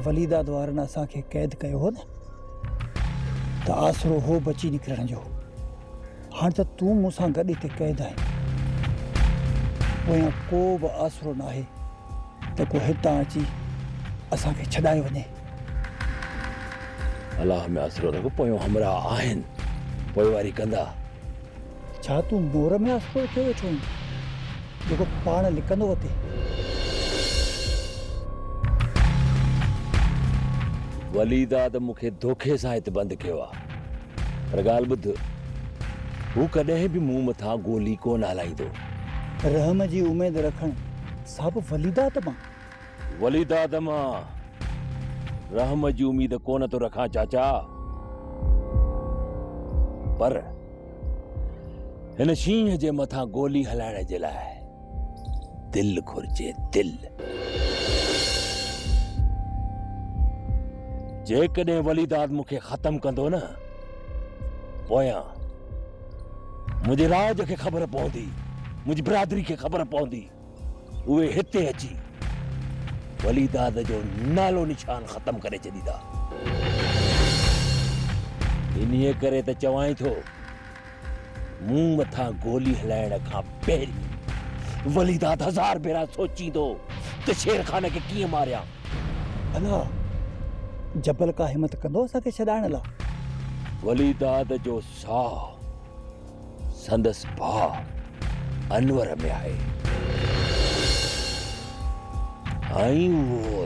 وليداد وارن اسان کي قيد ڪيو هو نه ته آسرو هو بچي نڪرڻ جو هاڻ ته تون مون سان گڏ هتي قيد آهين پويان ڪو به آسرو ناهي ته ڪو هتان اچي اسان کي ڇڏائي وڃي الله ۾ آسرو رک پويون همراهه آهن پوئواري ڪندا. ڇا تون مور ۾ آسرو رکيو ويٺو آهين جيڪو پاڻ لڪندو وتي. ولي داد مون کي دوکي سان هت بند ڪيو آ پر ڳالهه ٻڌ هو ڪڏهن به مون مٿان گولي ڪونه هلائيندو. رحم جي اميد رکڻ سا به ولي داد مان وليد آدم آن رحم جي اميد ڪونه ٿو رکان چاچا پر هن شينهن جي مٿان گولي هلائڻ جي لاء دل گهرجي دل جيڪڏهن وليد آدم کي ختم ڪندو نه پويان منهنجي راج کي خبر پوندي منهنجي برادري کي خبر پوندي اهي هتي اچي ولي داد جو نالو نشان ختم ڪري ڇڏيندا انهيء ڪري ته چوانء ٿو مون مٿان گولي هلائڻ کان پهرين ولي داد هزار ڀيرا سوچيندو ته شير خان کي ڪيئن ماريان ڀلا جبل ڪا همت ڪندو اسان کي ڇڏائڻ لاء ولي داد جو ساهه سندس ڀاء انور ۾ آهي ۽ اهو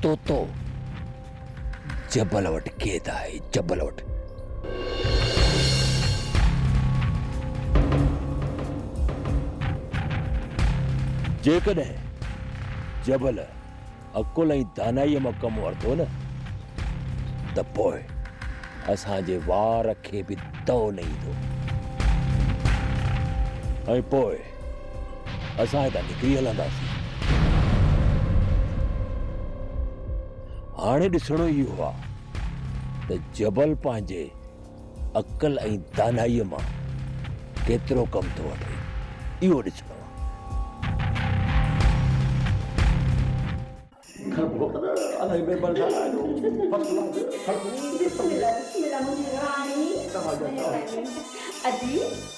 طوطو جبل وٽ قيد آهي جبل وٽ جيڪڏهن جبل عقل ۽ دانائيء مان ڪم ورتو نه ته پوء اسان جي وار کي به دؤ نه ايندو ۽ پوء اسان هتان نڪري هلنداسين. هاڻي ڏسڻو اهو آهي ته جبل پنهنجي عقل ۽ دانائيء مان ڪيترو ڪم ٿو وٺي، اهو ڏسڻو آهي.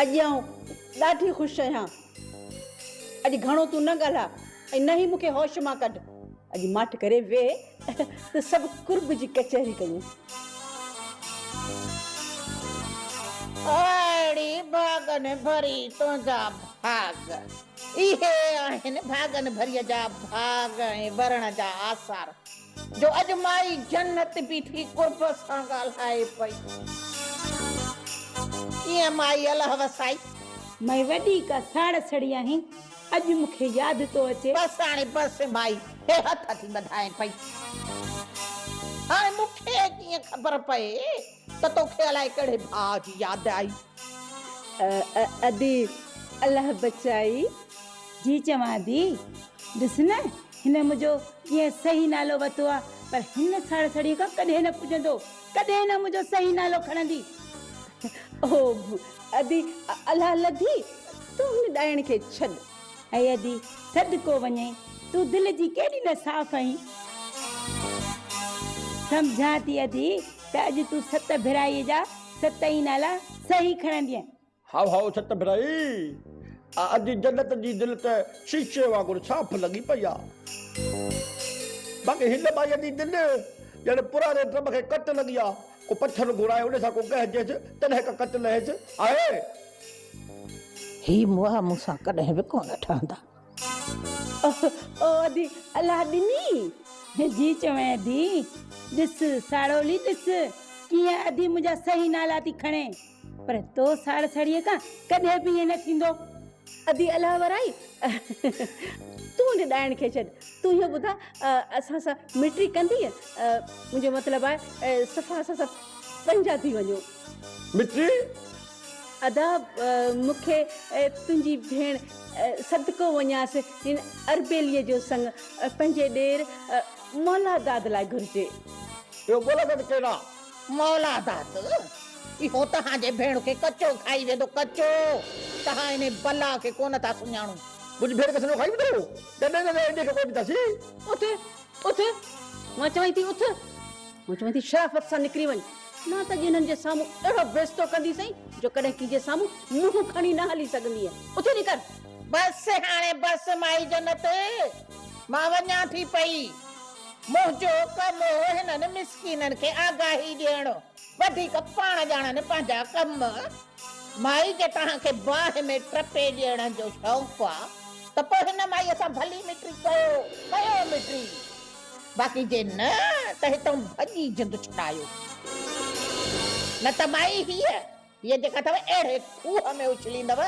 اڄ آئون ڏاڍي خوش آهيان. اڄ گهڻو تون نه ڳالهاء ۽ نه ئي مون کي هوش مان ڪڍ. اڄ ماٺ ڪري ويهه ته سڀ قرب جي ڪچهري ڪيون. اهڙي ڀاڳن ڀري تنهنجا ڀاڳ. اهي آهن ڀاڳن ڀريء جا ڀاڳ ۽ ڀرڻ جا آثار. جو اڄ مائي جنت بيٺي قرب سان ڳالهائي پئي. ڪيئن مائي الهه وسائي. مئي وڏي ڪا ساڙ سڙي آهين. اڄ مون کي ياد ٿو اچي. بس هاڻي بس مائي هي هٿ ٿي ٻڌائي پئي. هاڻي مون کي ڪيئن خبر پئي. ته توکي الائي ڪهڙي ڀاء جي ياد آئي. اء اء ادي الله بچائي. جي چوان ٿي ڏس نه هن منهنجو ڪيئن صحيح نالو وتو آ پر هن ساڙساڙيء کان ڪڏهن نه پڄندو ڪڏهن نه منهنجو صحيح نالو کڻندي. او ادي الله لڌي تون هن ڏائڻ کي ڇڏ. اي ادي! سڏ ڪو وڃئي، تون دل جي ڪيڏي نه صاف آهين. سمجهان ٿي ادي ته اڄ تون ست ڀرائيء جا ست ئي نالا صحيح کڻندينء. هائو هائو ست ڀرائي! آء ادي جنت جي دل ته شيشي وانگر صاف لڳي پئي آ. باقي هن ٻائيء جي دل ڄڻ پراڻي ڊرم کي ڪٽ لڳي آ. ڪو پٿر گهرائي ان سان ڪو ڳهجيس، تڏهن ڪا ڪٽ لهيس. آء. هي مئا مون سان ڪڏهن به ڪونه ٺهندا. او ادي الله ڏني جي جي چوين ادي ڏس ساڙولي ڏس ڪيئن ادي منهنجا صحيح نالا ٿي کڻي پر تو ساڙ ساڙيء کان ڪڏهن به ائين نه ٿيندو. ادي الله ورائي تون ڏي ڏائڻ کي ڇڏ تون اهو ٻڌاء اسان سان مٽري ڪندينء منهنجو مطلب آهي صفا اسان سان پنهنجا ٿي وڃو. مٺي. ادا مون کي تنهنجي ڀيڻ صدقو وڃانس هن اربيلي جو سڱ پنهنجي ڏير مولا داد لاء گهرجي. اهو مولا داد ڪير آ؟ مولا داد اهو تهان جي ڀيڻ کي ڪچو کائي ويندو ڪچو تهان انهي بلا کي ڪونه ٿا سڃاڻو. منهنجي ڀيڻ کي سڄو کائي ويندو هو. نه نه نه انهي کي ڪونه ڏينداسين. اٿ اٿ مان چوانء ٿي اٿ. مون چيو ويندي شرافت سان نڪري وڃ نه ته اڄ هنن جي سامهون اهڙو بيستو ڪندي سئي جو ڪڏهن ڪنهن جي سامهون منهن کڻي نه هلي سگهندينء اٿي نڪر. بس هاڻي بس مائي جنت مان وڃان ٿي پئي منهنجو ڪم هو هنن مسڪينن کي آگاهي ڏيڻ وڌيڪ پاڻ ڄاڻن پنهنجا ڪم مائي جي توهان کي باهه ۾ ٽپي ڏيڻ جو شوق آ ته پوء هن مائي سان ڀلي مٽري ڪيو ڪيو مٽري. باقي جي نه ته هتئون ڀڄي جند ڇڏايو. نه ته مائي هيء، هيء جيڪا اٿئو اهڙي کوهه ۾ اڇليندؤ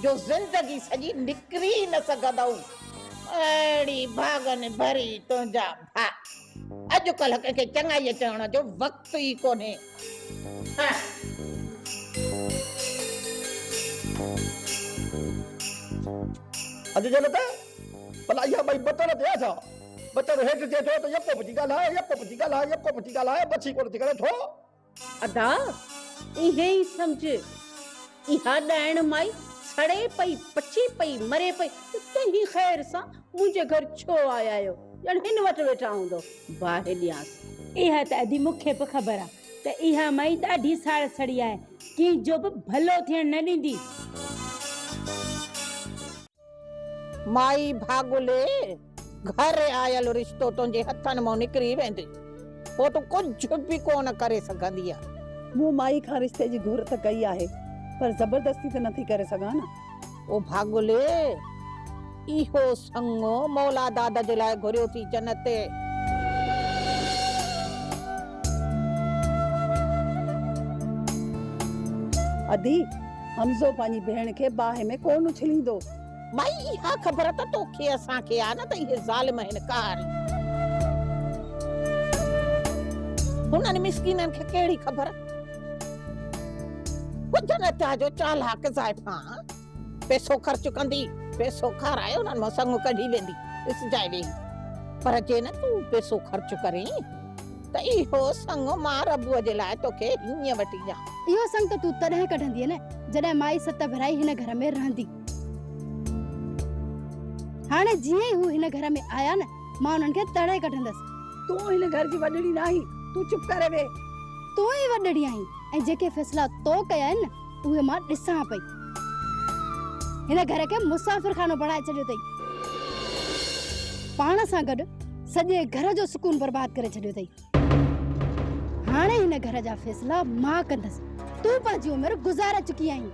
جو زندگي سڄي نڪري ئي نه سگهندؤ. اهڙي ڀاڳن ڀري تنهنجا ڀاء. اڄڪلهه ڪنهن کي چڱائيء چوڻ جو وقت ئي ڪونهي. اڄ جهل ته ڀلا اها ٻئي بتل ٿيا ڇا؟ ٻچڙو هيٺ ٿئي ٿو ته يڪو پڇي ڳالهاء، يڪو پڇي ڳالهاء، يڪو پڇي ڳالهاء، بڇي ڪونه ٿي ڪري ٿو. ادا ايئن ئي سمجهه، اها ڏائڻ مائي سڙي پئي، پچي پئي، مري پئي ته توهين خير سان منهنجي گهر ڇو آيا آهيو، ڄڻ هن وٽ ويٺا هوندؤ، باهه ڏيانس. اها ته ادي مون کي به خبر آ ته اها مائي ڏاڍي ساڙ سڙي آهي، ڪنهن جو به ڀلو ٿيڻ نه ڏيندي. مائي ڀاڳلي، گهر آيل رشتو تنهنجي هٿن مان نڪري ويندي، پوء تون ڪجهه به ڪونه ڪري سگهندينء. مون مائي کان رشتي جي گهر ته ڪئي آهي، پر زبردستي ته نٿي ڪري سگهان نه. او ڀاڳلي، اهو سڱو مولا داد جي لاء گهريو ٿي جنت. ادي! حمزو پنهنجي ڀيڻ کي باهه ۾ ڪونه اڇليندو. مائي اها خبر ته توکي اسان کي آ نه ته اهي ظالم هن قهاري. هنن مسڪينن کي ڪهڙي خبر. ٻڌ نه ته جو چالاڪ زائفان پئسو خرچ ڪندي پئسو کارائي انهن مان سڱ ڪڍي ويندي ڏسجانء ويهي. پر جي نه تون پئسو خرچ ڪرين. ته اهو سڱ مان ربوء جي لاء توکي هينئن وٺي ڏيان. اهو سڱ ته تون تڏهن ڪڍندينء نه جڏهن مائي ست ڀيرائي هن گهر ۾ رهندي. هاڻي جيئن ئي هو هن گهر ۾ آيا نه مان انهن کي تڙي ڪڍندس. تون هن گهر جي وڏڙي ناهين، تون چپ ڪري ويهه. تون ئي وڏڙي آهين ۽ جيڪي فيصلا تو ڪيا آهن نه. اهي مان ڏسان پئي. هن گهر کي مسافر خانو بڻائي ڇڏيو اٿئي. پاڻ سان گڏ سڄي گهر جو سڪون برباد ڪري ڇڏيو اٿئي. هاڻي هن گهر جا فيصلا مان ڪندس. تون پنهنجي عمر گذاري چڪي آهين.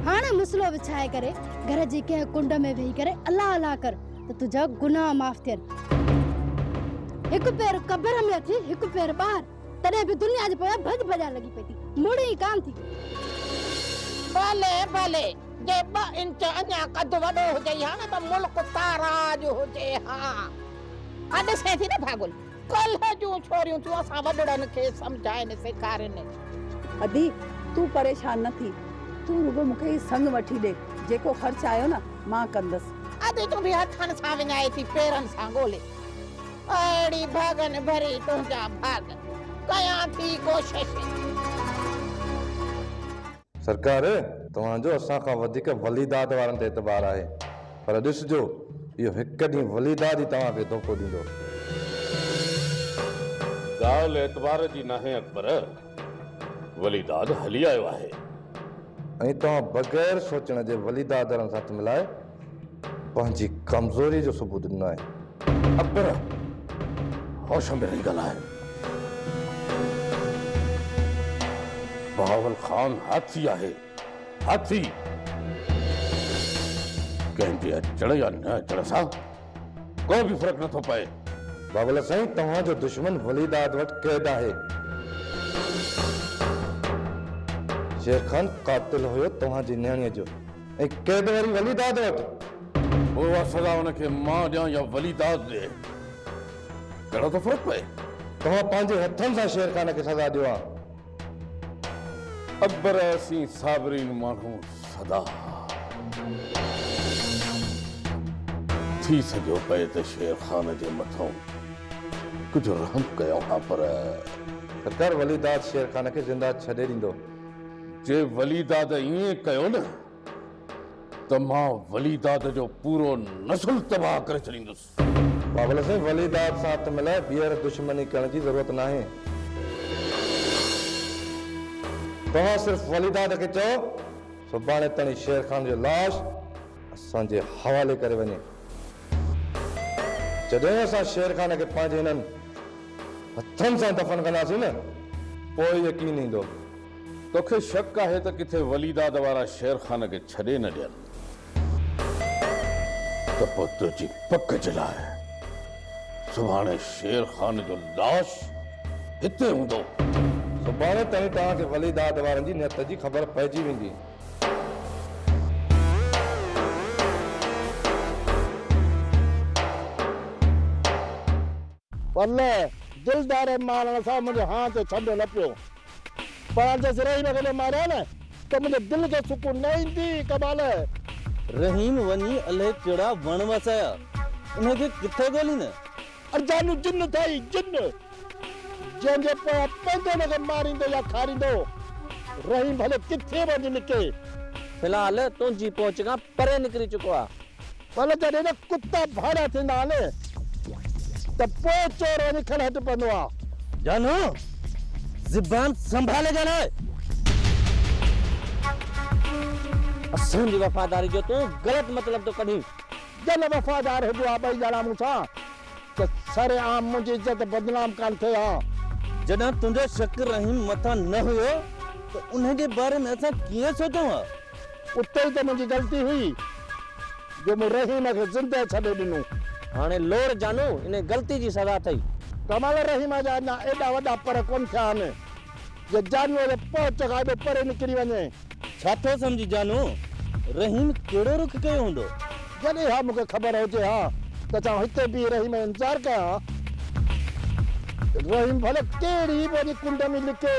هاڻي مسلو وڇائي ڪري گهر جي ڪنهن ڪنڊ ۾ ويهي ڪري الله الله ڪر ته تنهنجا گناهه معاف ٿين. هڪ پير قبر ۾ اٿي هڪ پير ٻاهر. تڏهن به دنيا جي پويان ڀڄ ڀڄان لڳي پئي ٿي. مڙي ئي ڪانه ٿي. ڀلي ڀلي، جي ٻه انچ اڃا قد وڏو هجئي ها نه ته ملڪ تاراج هجي ها. ها ڏسين ٿي نه ڀاڳل، ڪلهه جون ڇوريون ٿيون اسان وڏڙن کي سمجهائين سيکارين. ادي، تون پريشان نه ٿي. تون رڳو مون کي هي سڱ وٺي ڏي. جيڪو خرچ آيو نه، مان ڪندس. ادي تون به هٿن سان وڃائي ٿي پيرن سان ڳولي. اهڙي ڀاڳن ڀري تنهنجا ڀاڳ، ڪيان ٿي ڪوشش. سرڪار! توهان جو اسان کان وڌيڪ ولي داد وارن تي اعتبار آهي، پر ڏسجو، اهو هڪ ڏينهن ولي داد ئي توهان کي ڌوڪو ڏيندو. ڳالهه اعتبار جي ناهي اڪبر، ولي داد هلي آيو آهي. ۽ توهان بغير سوچڻ جي ولي داد وارن سان هٿ ملائي، پنهنجي ڪمزوري جو ثبوت ڏنو آهي. اڪبر هوش ۾ رهي ڳالهايو. بهاول خان هاٿي آهي، هاٿي! ڪنهن جي اچڻ يا نه اچڻ سان ڪو به فرق نٿو پئي. بهاول سائين توهان جو دشمن ولي داد وٽ قيد آهي. شير خان قاتل هيو توهان جي نياڻيء جو. ۽ قيد وري ولي داد وٽ. پوء اها سزا هن کي مان ڏيان يا ولي داد ڏئي، ڪهڙو ٿو فرق پئي؟ توهان پنهنجي هٿن سان شير خان کي سزا ڏيو ها. اڪبر، اسين صابرين ماڻهو سدا ها. ٿي سگهيو پئي ته شير خان جي مٿئون ڪجهه رحم ڪيون ها پر. ته ڪر ولي داد شير خان کي زنده ڇڏي ڏيندو. جي ولي داد ائين ڪيو نه ته مان ولي داد جو پورو نسل تباهه ڪري ڇڏيندس. بابل سائين ولي داد سان هٿ ملائي ٻيهر دشمني ڪرڻ جي ضرورت ناهي. توهان صرف ولي داد کي چئو سڀاڻي تڻي شير خان جو لاش اسان جي حوالي ڪري وڃي. جڏهن اسان شير خان کي پنهنجي هنن هٿن سان دفن ڪنداسين نه پوء يقين ايندو. توکي شڪ آهي ته ڪٿي وليداد وارا شير خان کي ڇڏي نه ڏين ته پوء تنهنجي پڪ جي لاء سڀاڻي شير خان جو لاش هتي هوندو. سڀاڻي تائين توهان کي وليداد وارن جي نيت جي خبر پئجي ويندي. والله دل ڌاري مارڻ سان منهنجي هان تي ڇنڊو نه پيو پر هاڻ جيس رحيم کي نه ماريان نه ته منهنجي دل کي سڪون نه ايندي اقبال. رحيم وڃي الهي ڪهڙا وڻ وسايا انهي کي ڪٿي ڳوليندين. اڙ جانو جن اٿئي جن جنهن جي پويان پوندو ان کي ماريندو يا کاريندو رحيم ڀلي ڪٿي به هجي نڪي. في الحال تنهنجي پهچ کان پري نڪري چڪو آ. پر جڏهن نه ڪتا ڀاڙا ٿيندا آهن ته پوء چور وڃي کڻ هٽ پوندو آهي. جانو! زبان سنڀالي ڳالهاء. اسان جي وفاداري جو تون غلط مطلب ٿو ڪڍين. جڏهن وفادار هجو ها ٻئي ڄڻا مون سان ته سرعام منهنجي عزت بدنام ڪانه ٿئي ها. جڏهن تنهنجو شڪ رحيم مٿان نه هيو ته انهي جي باري ۾ اسان ڪيئن سوچون ها. اتي ئي ته منهنجي غلطي هئي جو مون رحيم کي زندهه ڇڏي ڏنو. هاڻي لوڙ جانو ان غلطي جي سزا اٿئي. ڪمال، رحيم جا اڃا ايڏا وڏا پر ڪونه ٿيا آهن جو جانوء جي پهچ کان ايڏو پري نڪري وڃي. ڇا ٿو سمجهين جانو، رحيم ڪهڙو رخ ڪيو هوندو؟ جڏهن اها مون کي خبر هجي ها ته ڇا آئون هتي بيهي رحيم جو انتظار ڪيان ها؟ رحيم ڀلي ڪهڙي به وڏي ڪنڊ ۾ لڪي.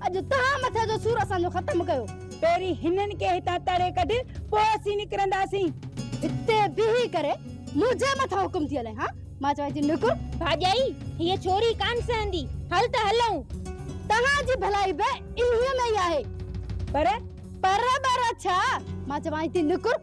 اڄ توهان مٿي جو سور اسان جو ختم ڪيو. پهرين هنن کي هتان تڙي ڪڍ پوء اسين نڪرنداسين. هتي بيهي ڪري منهنجي مٿان حڪم ٿي هلائين ها. مان چوان ٿي نڪر. ڀاڄائي هيء ڇوري ڪانه سهندي. هل ته هلئون. توهان جي ڀلائي به انهيء ۾ ئي آهي. پر پر ٻر ڇا؟ مان چوان ٿي نڪر.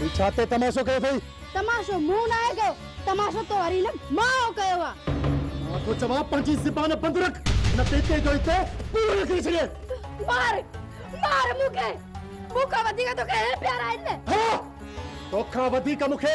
هي ڇا تي تماشو ڪيو اٿئي؟ تماشو مون ناهي ڪيو، تماشو تو واري هن ماء ڪيو آ. مان ٿو چوان پنهنجي زبان بند رک، نه ته هتي جو هتي پورو لکي ڇڏين. مار، مار مون کي، مون کان وڌيڪ توکي هي پيارا آهن نه. ها! توکان وڌيڪ مون کي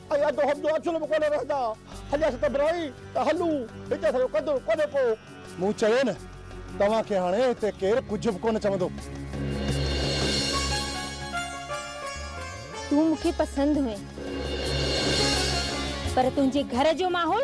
۽ اڌ هوم جو اڇلو به ڪونه رهندا. هليا ست براهي ته هلون، هتي اسان جو قدر ڪونهي ڪو. مون چيو نه، توهان کي هاڻي هتي ڪير ڪجهه به ڪونه چوندو. تون مون کي پسند هئين، پر تنهنجي گهر جو ماحول.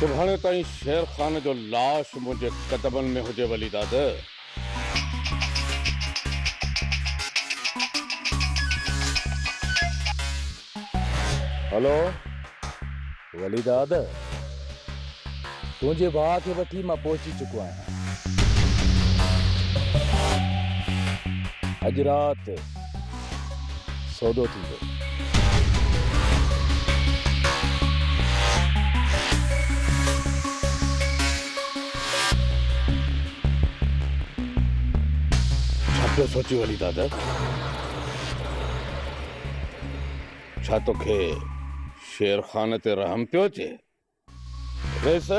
سڀاڻي تائين شير خان جو لاش منهنجي قدمن ۾ هجي ولي داد. هلو. وليداد! تنهنجي ڀاء کي وٺي مان پهچي چڪو آهيان. اڄ رات سودو ٿيندو. ڇا پيو سوچين وليداد؟ ڇا توکي شير خان تي رحم پيو اچي؟ کيس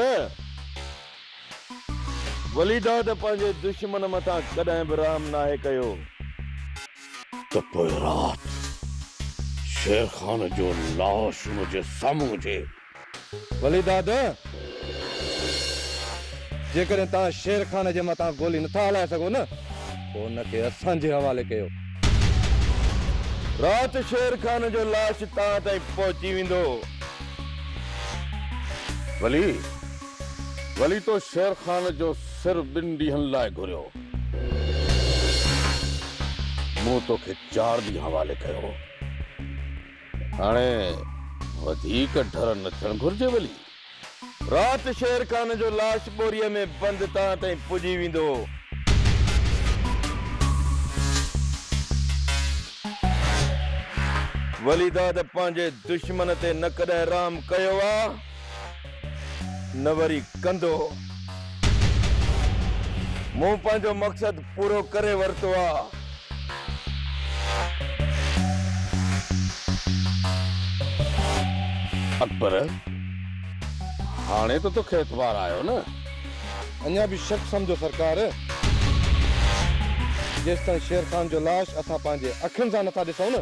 ولي ڊاڊ پنهنجي دشمن مٿان ڪڏهن به رحم ناهي ڪيو. ته پوء رات شير خان جو لاش منهنجي سامهون هجي. ولي داد! جيڪڏهن توهان شير خان جي مٿان گولي نه ٿا هلائي سگهو نه پوء ان کي اسان جي حوالي ڪيو. رات شير خان جو لاش توهان تائين پهچي ويندو. ولي! ولي تو شير خان جو سر ٻن ڏينهن لاء گهريو. مون تو کي چار ڏينهن حوالي ڪيو هو. هاڻي وڌيڪ ڍر نه ٿيڻ گهرجي ولي. رات شير خان جو لاش ٻوريء ۾ بند تان تائين پڄي ويندو. ولي داد پنهنجي دشمن تي نه ڪڏهن رحم ڪيو آ. نه وري ڪندو. مون پنهنجو مقصد پورو ڪري ورتو آ. اڪبر، هاڻي ته توکي اعتبار آيو نه؟ اڃا به شڪ سمجهو سرڪار. جيستائين شير خان جو لاش اسان پنهنجي اکين سان نٿا ڏسون نه.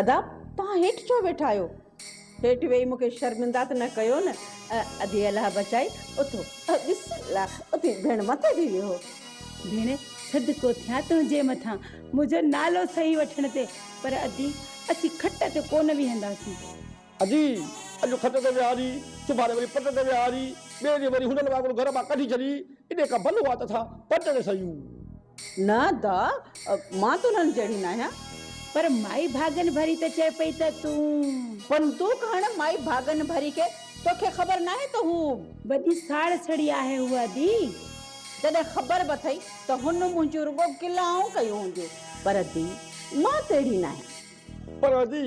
ادا توهان هيٺ ڇو ويٺا آهيو هيٺ ويهي مون کي شرمندا ته نه ڪيو نه ادي الله بچائي اٿو بسم الله اٿي ڀيڻ مٿي ٿي ويهو ڀيڻ صدقو ٿيا تنهنجي مٿان منهنجو نالو صحيح وٺڻ تي پر ادي، اسين کٽ تي ڪو نه ويهنداسين. ادي، اڄ کٽ تي ويهاري، سڀاڻي وري پٽ تي ويهاري، ٻئي ڏينهن وري هنن وانگر گهر مان ڪڍي ڇڏي، انهيء کان ڀلو آ ته اسان پٽ تي سهيون. نه ادا، مان ته انهن جهڙي ناهيان. پر مائي ڀاڳن ڀري ته چئي پئي ته تون. بندوق هڻ مائي ڀاڳن ڀري کي، توکي خبر ناهي ته هو. وڏي ساڙ سڙي آهي هوء ادي. جڏهن خبر به اٿئي ته هن منهنجون رڳو گلائون ڪيون هونديون. پر ادي. مان ته اهڙي ناهيان. پر جي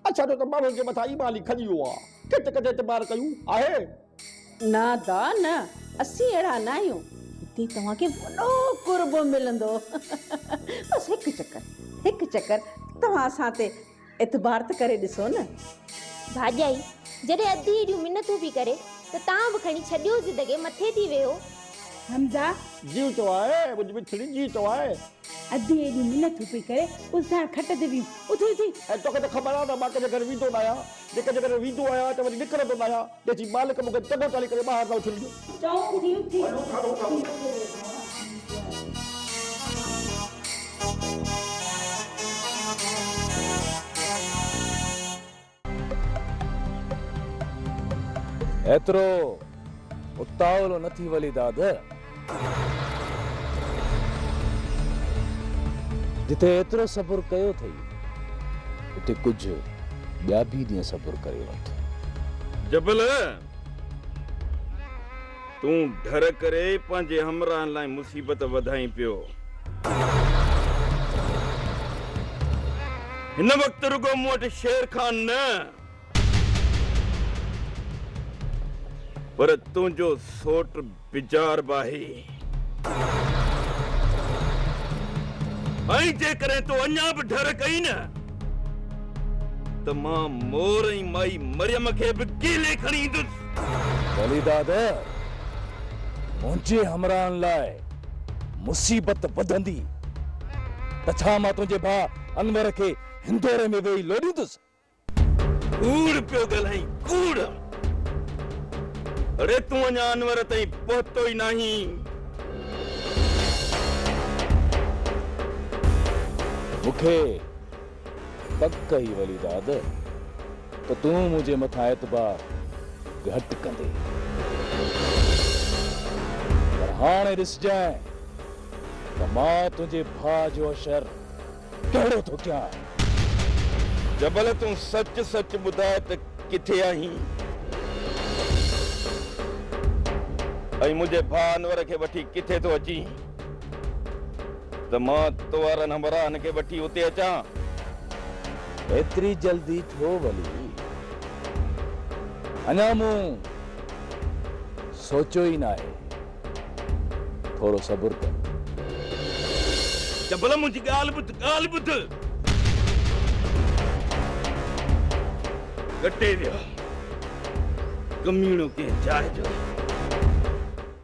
اچ ڇڏيو ته ماڻهن جي مٿان ايمان ئي کڄي ويو آهي. ڪٿ ڪٿ اعتبار ڪيون آهي. نه دا نه اسين اهڙا ناهيون. هتي توهان کي وڏو قرب ملندو. بس هڪ چڪر هڪ چڪر توهان اسان تي اعتبار ته ڪري ڏسو نه. ڀاڄائي جڏهن اڌ ايڏيون منتون پي ڪري ته تان به کڻي ڇڏيو زدگي مٿي ٿي ويهو. حمزه! جيو تو آء، منهنجي مٺڙي جيو تو آء. ادي ايڏيون منٿون پئي ڪري، الساڻ کٽ تي ويهون، اٿي اٿي. ۽ توکي ته خبر آ ته مان ڪنهنجي گهر ويندو ناهيان، جي ڪنهنجي گهر ويندو آهيان ته وري نڪرندو ناهيان، تنهن چي مالڪ مون کي چڱو چالي ڪري ٻاهر نه اٿڻ ڏيو. چئو اٿي اٿي. هلون ٿا روڊ ڏانهن. ايترو اتاولو نه ٿي ولي داد. جتي ايترو صبر ڪيو ٿئي، اتي ڪجهه ٻيا به ڏينهن صبر ڪري وٺ. جبل! تون ڍر ڪري پنهنجي همراهن لاء مصيبت وڌائين پيو. هن وقت رڳو مون وٽ شير خان نه پر تنهنجو سوٽ بجار به آهي ۽ جيڪڏهن تو اڃا به ڍر ڪئي نه ته مان مور ۽ مائي مريم کي به ڪيلي کڻي ايندس. ولي داد، منهنجي همراهن لاء مصيبت وڌندي ته ڇا مان تنهنجي ڀاء انور کي هندوري ۾ ويهي لوڏيندس؟ ڪوڙ پيو ڳالهائين، ڪوڙ! اڙي تون اڃا انور تائين پهتو ئي ناهين. مون کي پڪ هي ولي داد ته تون منهنجي مٿان اعتبار گهٽ ڪندين پر هاڻي ڏسجانء ته مان تنهنجي ڀاء جو اشر ڪهڙو ٿو ڪيان. جبل تون سچ سچ ٻڌاء ته ڪٿي آهين ۽ منهنجي ڀاء انور کي وٺي ڪٿي ٿو اچين. ته مان توهارن همراهن کي وٺي اتي اچان. ايتري جلدي ڇو ولي؟ اڃا مون سوچيو ئي ناهي. ٿورو صبر ڪر. جبل منهنجي ڳالهه ٻڌ، ڳالهه ٻڌ. ڳٽي ويا، ڪميڻو ڪنهن جاء جو.